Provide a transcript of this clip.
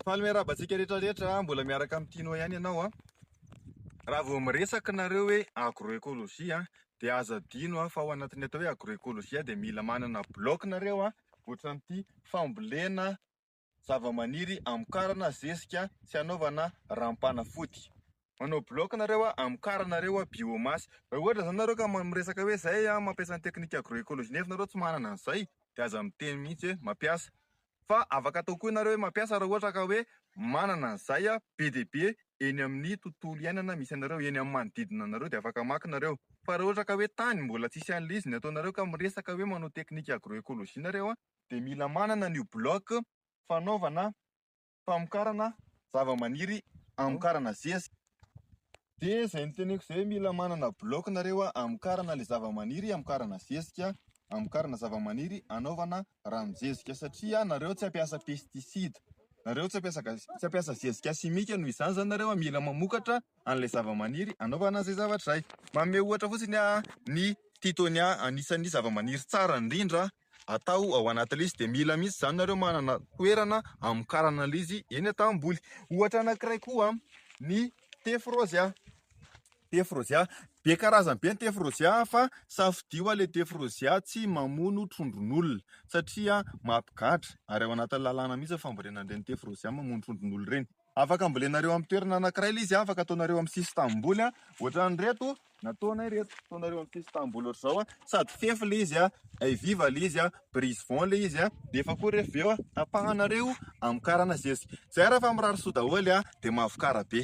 Faly miarahaba antsika rehetra rehetra a, mbola miaraka amin'i Tino ihany ianao a. Raha vao miresaka nareo hoe agroecologie a, dia aza adino a fa ao anatin'ny atao hoe agroecologie a dia mila manana bloc nareo a, ohatran'ity fambolena zavamaniry hamokarana zezika sy hanaovana ranom-panafody. Manao bloc nareo a, amokaranareo a biomasse. Raha ohatra zany nareo ka miresaka hoe zay a mampiasa ny technique agro-ecologie nefa nareo tsy manana an'izay de aza miteny mihitsy hoe mampiasa. Fa afaka atao koa nareo hoe mampiasa raha ohatra ka hoe manana an'izay a be dia be eny amin'ny tontolo iainana misy anareo, eny amin'ny manodidina anareo de afaka maka nareo. Fa raha ohatra ka hoe tany mbola tsisy an'le izy ny ataonareo ka miresaka hoe manao technique agro-ecologie nareo a de mila manana an'io bloc fanaovana famokarana zavamaniry amokarana zeziky dia izay noteneniko izay hoe mila manana bloc nareo amokarana ilay zavamaniry amokarana zezika amokarana zavamaniry anaovana ranonjezika satria nareo tsy ampiasa pesticide nareo tsy ampiasa tsy ampiasa zezika simika noho izany izany nareo mila mamokatra an'ilay zavamaniry anaovana izay zavatra izay manome ohatra fotsiny aho ny titonia anisan'ny zavamaniry tsara indrindra atao ao anatin'ilay izy dia mila mihitsy izany nareo manana toerana hamokarana ilay izy eny an-tanimboly. Ohatra anankiray koa ny tefy rôzia, tefy rôzia, be karazany be ny tefy rôzia fa safidio ilay tefy rôzia tsy mamono trondron'olona satria mampigadra ary ao anatin'ny lalàna mihitsy ny fambolena an'ireny tefy rôzia mamono trondron'olona ireny. Afaka ambolenareo amin'ny toerana anankiray ilay izy an, afaka ataonareo amin'ny sisin-tanimboly an, ohatran'ireto nataonay ireto, ataonareo amin'ny sisin-tanimboly ohatr'izao an, sady fefy ilay izy an, hay viva ilay izy an, brise vent ilay izy an, nefa koa rehefa avy eo an, tapahanareo amin'ny karana zezika, izay ary fa mirary soa daholo an, dia mahavokara be.